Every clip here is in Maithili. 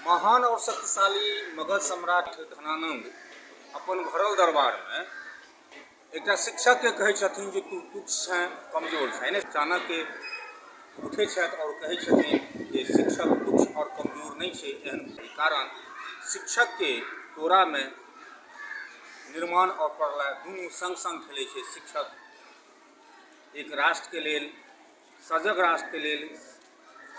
महान और शक्तिशाली मगध सम्राट धनानंद अपन भरल दरबार में एकटा शिक्षक के कहे छथिन जे तू तुच्छ छे कमजोर छे ने चाणक्य उठे छथि और कहे छथिन जे शिक्षक तुच्छ और कमजोर नहीं छे एहन कारण शिक्षक के तोरा में निर्माण और प्रलय दुनू संग संग खेले छे शिक्षक एक राष्ट्र के लेल सजग राष्ट्रके लेल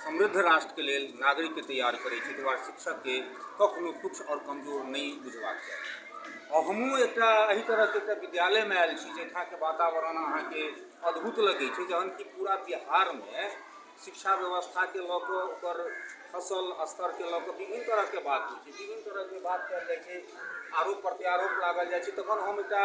समृद्ध राष्ट्रके लेल नागरिकके तैयार करै छै ताहि शिक्षकके कखनो तुच्छ आओर कमजोर नहि बुझबाक चाही आओर हमहूँ एकटा एहि तरहके एकटा विद्यालयमे आयल छी जाहिठामके वातावरण अहाँके अद्भुत लगै छै जहन कि पूरा बिहारमे शिक्षा व्यवस्थाके लऽ कऽ ओकर फसल स्तरके लऽ कऽ विभिन्न तरहके बात होइ छै विभिन्न तरहके बात कयल जाइ छै आरोप प्रत्यारोप लागल जाइ छै तखन हम एकटा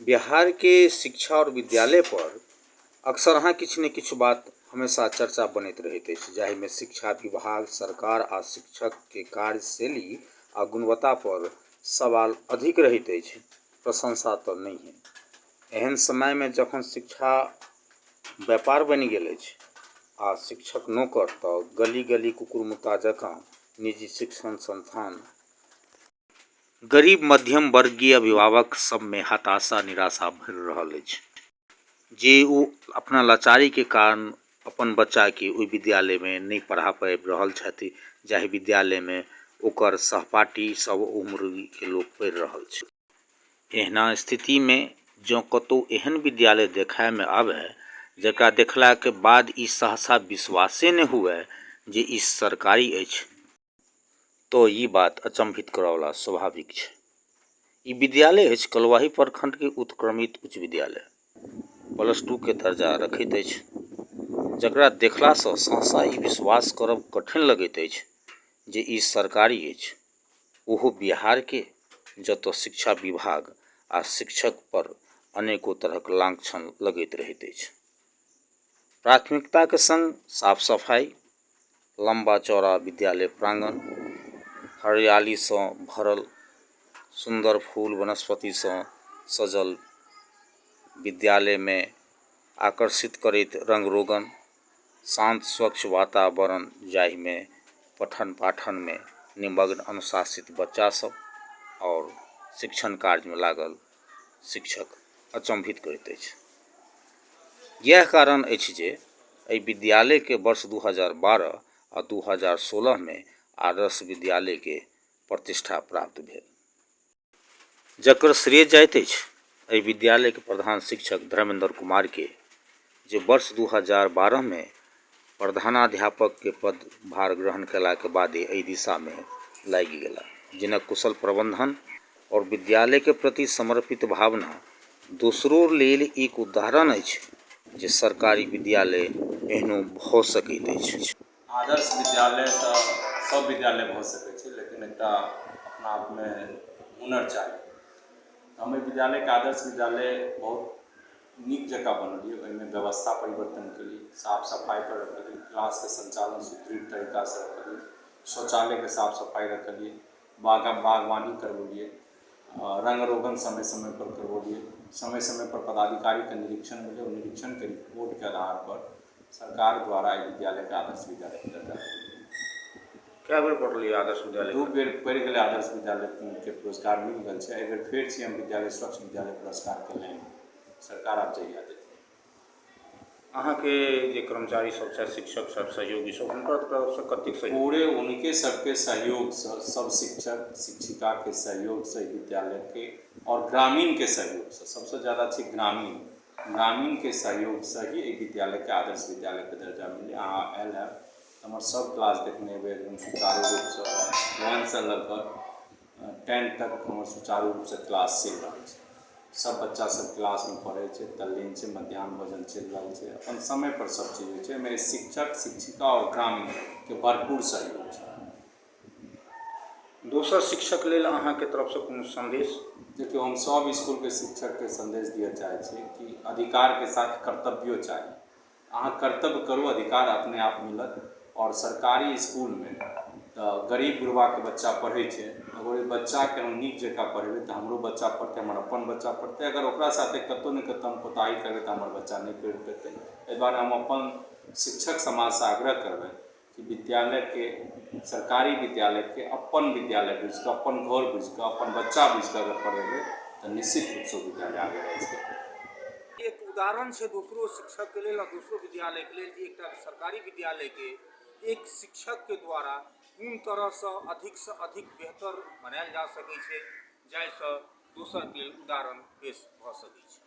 बिहारके शिक्षा आओर विद्यालयपर अक्सर अहाँ किछु ने किछु बात हमेशा चर्चा बनैत रहैत अछि जाहिमे शिक्षा विभाग सरकार आओर शिक्षकके कार्यशैली आओर गुणवत्तापर सवाल अधिक रहैत अछि प्रशंसा तऽ नहिये एहन समयमे जखन शिक्षा व्यापार बनि गेल अछि आओर शिक्षक नौकर तऽ गली गली कुकुर मुत्ता जकाँ निजी शिक्षण संस्थान गरीब मध्यम वर्गीय अभिभावक सबमे हताशा निराशा भरि रहल अछि जे ओ अपना लाचारीके कारण अपन बच्चाके ओहि विद्यालयमे नहि पढ़ा पाबि रहल छथि जाहि विद्यालयमे ओकर सहपाठी सब उम्रके लोक पढ़ि रहल छै एहना स्थितिमे जँ कतहु एहन विद्यालय देखायमे आबय जकरा देखलाके बाद ई सहसा विश्वासे नहि हुए जे ई सरकारी अछि तँ ई बात अचंभित करयवला स्वाभाविक छै। ई विद्यालय अछि कलुआही प्रखंड के उत्क्रमित उच्च विद्यालय। प्लस टू के दर्जा रखैत अछि। जकरा देखला सँ सहसा ई विश्वास करब कठिन लगैत अछि जे ई सरकारी अछि, ओहो बिहार के, जतय शिक्षा विभाग आ शिक्षक पर अनेको तरहक लांछन लगैत रहैत अछि। प्राथमिकता के संग साफ-सफाई, लम्बा चौड़ा विद्यालय प्राङ्गण हरियालीसँ भरल सुन्दर फूल वनस्पतिसँ सजल विद्यालयमे आकर्षित करैत रङ्ग रोगन शान्त स्वच्छ वातावरण जाहिमे पठन पाठनमे निमग्न अनुशासित बच्चा सब आओर शिक्षण कार्यमे लागल शिक्षक अचम्भित करैत अछि इएह कारण अछि जे एहि विद्यालयके वर्ष दू हजार बारह आ दू हजार सोलहमे आदर्श विद्यालयके प्रतिष्ठा प्राप्त भेल जकर श्रेय जाइत अछि एहि विद्यालयके प्रधान शिक्षक धर्मेन्द्र कुमारके जे वर्ष दू हजार बारहमे प्रधानाध्यापक के पद भार ग्रहण केला के बादे एहि दिशा मे लागि गेला। जिनक कुशल प्रबंधन और विद्यालय के प्रति समर्पित भावना दोसरोर लेल एक उदाहरण अछि जे सरकारी विद्यालय एहनो भऽ सकैत अछि। आदर्श विद्यालय तऽ सब विद्यालय भऽ सकैत छै लेकिन एकटा अपना आप मे हुनर चाही। हम एहि विद्यालय के आदर्श विद्यालय बहुत। नीक जकाँ बनबियै ओहिमे व्यवस्था परिवर्तन करी साफ सफाइ पर रखी क्लासके सञ्चालन सुदृढ़ तरीकासँ करी शौचालयके साफ सफाइ रखलियै बागक बागवानी करबेलियै आ रङ्ग रोगन समय समय पर करबेलियै समय समय पर पदाधिकारीके निरीक्षण भेलै ओ निरीक्षण रिपोर्टके आधार पर सरकार द्वारा एहि विद्यालयके आदर्श विद्यालय के दर्जा देल गेलै कए बेर पढ़लियै आदर्श विद्यालय दू बेर पढ़ि गेलै आदर्श विद्यालयके पुरस्कार मिल गेल छै एहिबेर फेर सी एम विद्यालय स्वच्छ विद्यालय पुरस्कारके लाइन सरकार आब जहिया देतै अहाँके जे कर्मचारी सब छथि शिक्षक सब सहयोगी सब हुनकर तरफसँ कतेक सहयोग पूरे उनके सबके सहयोगसँ सब शिक्षक शिक्षिकाके सहयोगसँ विद्यालयके आओर ग्रामीणके सहयोगसँ सबसँ जादा छै ग्रामीण ग्रामीणके सहयोगसँ ही एहि विद्यालयके आदर्श विद्यालयके दर्जा मिललै अहाँ आयल है हमर सब क्लास देखने हेबै एकदम सुचारु रूपसँ वन सँ लऽ कऽ टेन तक हमर सुचारु रूपसँ क्लास चलि रहल छै सब बच्चा सब क्लासमे पढ़ै छै तल्लीन छै मध्याह्न भोजन चलि रहल छै अपन समयपर सब चीज होइ छै एहिमे शिक्षक शिक्षिका आओर ग्रामीणके भरपूर सहयोग छै दोसर शिक्षक लेल अहाँके तरफसँ कोनो सन्देश देखियौ हम सब इसकुलके शिक्षकके सन्देश दिअ चाहै छी कि अधिकारके साथ कर्तव्यो चाही अहाँक कर्तव्य करू अधिकार अपने आप मिलत आओर सरकारी इसकुलमे तऽ गरीब गुरबाके बच्चा पढ़ै छै अगर ओहि बच्चाके हम नीक जकाँ पढ़ेबै तऽ हमरो बच्चा पढ़तै हमर अपन बच्चा पढ़तै अगर ओकरा साथे कतहु ने कतहु हम कोताही करबै तऽ हमर बच्चा नहि पढ़ि पेतै एहि दुआरे हम अपन शिक्षक समाजसँ आग्रह करबनि कि विद्यालयके सरकारी विद्यालयके अपन विद्यालय बुझि कऽ अपन घर बुझि कऽ अपन बच्चा बुझि कऽ अगर पढ़ेबै तऽ निश्चित रूपसँ ओ विद्यालय आगे बढ़ि सकैए एक उदाहरण छै दोसरो शिक्षकके लेल आ दोसरो विद्यालयके लेल जे एकटा सरकारी विद्यालयके एक शिक्षकके द्वारा कोन तरहसँ अधिकसँ अधिक बेहतर बनायल जा सकै छै जाहिसँ दोसरके लेल उदाहरण पेश भऽ सकै छै